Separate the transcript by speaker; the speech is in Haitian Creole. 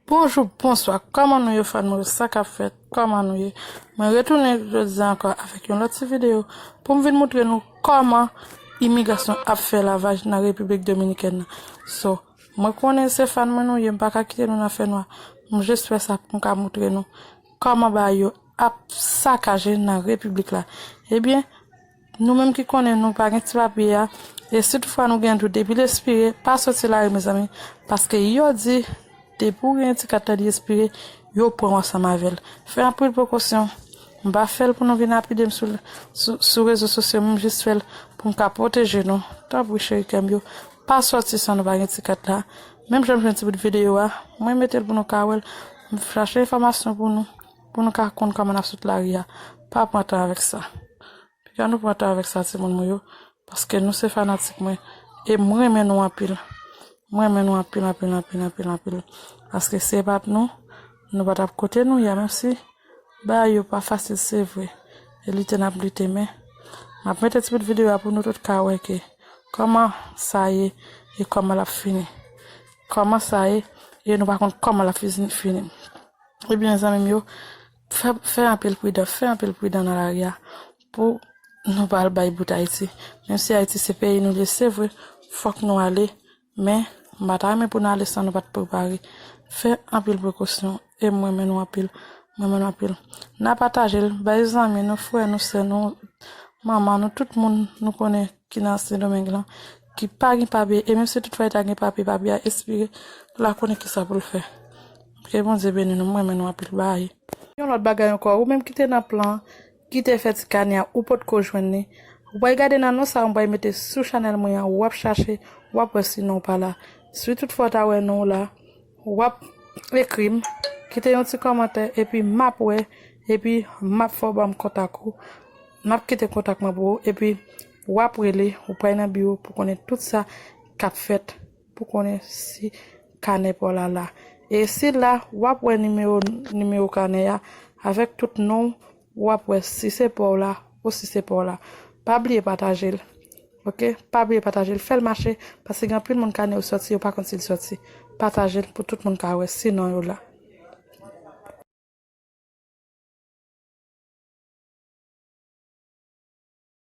Speaker 1: Bonjou bonswa kòman nou ye fanmi yo sa kap fèt kòman nou ye mwen retounen jodi a ankò avèk yon lòt ti videyo poum vin moutre nou kòman imigrasyon ap fè lavaj nan repiblik dominikèn nan so mwen konnen se fan mwen nou ye m paka kite nou nan fè nwa m jis fè sa poum ka moutre nou kòman bagay yo ap sakaje nan repiblik la ebyen Nou menm ki konnen nou pa gen ti papye a e si toutfwa nou gen dout depi l espire pa soti lari mezanmi paske yo di depi ou gen ti kat la li espire yo pran w ansanm avè l fè anpil prekosyon m pa fè l pou nou vin lapide m sou rezo sosyo m jis fè l pou m ka pwoteje nou tanpri cheri kè m yo pa soti san nou pa gen ti kat la menm jan m jwenn ti bout videyo a mwen mete l pou nou ka wè l m chache enfòmasyon pou nou. Pou nou ka konn kòman n ap sot lari a, pa pran tan avèk sa. Piga nou pran tan avèk sa timoun mwen yo, paske nou se fanatik mwen e m renmen nou anpil. M renmen nou anpil anpil anpil anpil anpil. Paske si e pat nou, nou pa t ap kote nou ye a. Menm si bagay yo pa fasil se vre, e lite n ap lite men m ap mete ti bout videyo a pou nou tout ka wè ke kòman sa ye e kòman l ap fini. Kòman sa ye e nou pa konn kòman l ap fini. Ebyen zanmim yo fè anpil pridan, fè anpil pridan nan lari a pou nou pa al bay bout Ayiti. Menm si Ayiti se peyi nou ye se vre fòk nou ale men m pa ta renmen pou nou ale san nou pat prepare. Fè anpil prekosyon e m renmen nou anpil, m renmen nou anpil. Na pataje l bay zanmi nou, frè nou, sè nou, manman nou, tout moun nou konnen ki nan Sendomeng lan. ki pa gen papye e menm si tout fwa li ta gen papye papye a espire la konnen kisa pou l fè ke Bondye beni nou m renmen nou anpil bae. Yon lòt bagay ankò ou menm ki te nan plan ki te fè ti kanè a ou potko jwenn li ou pral gade nan non sa mwen pral mete sou chanèl mwen an wap chache wap wè si non w pa la si tout fwa w ta wè non w la wap ekri m kite yon ti kòmantè epi map wè epi map fè w banm kontak ou map kite kontak mwen pou ou epi Wap rele ou pral nan biwo pou konnen tout sa kap fèt pou konnen si kanè paw la la. E sil la wap wè nimewo nimewo kanè a avèk tout nonw wap wè si se paw la ou si se paw la. Pa bliye patajel ok pa bliye patajel fèl mache paske gen anpil moun kanè yo sòti yo pa konn sil sòti patajel pou tout moun ka wè si non yo la.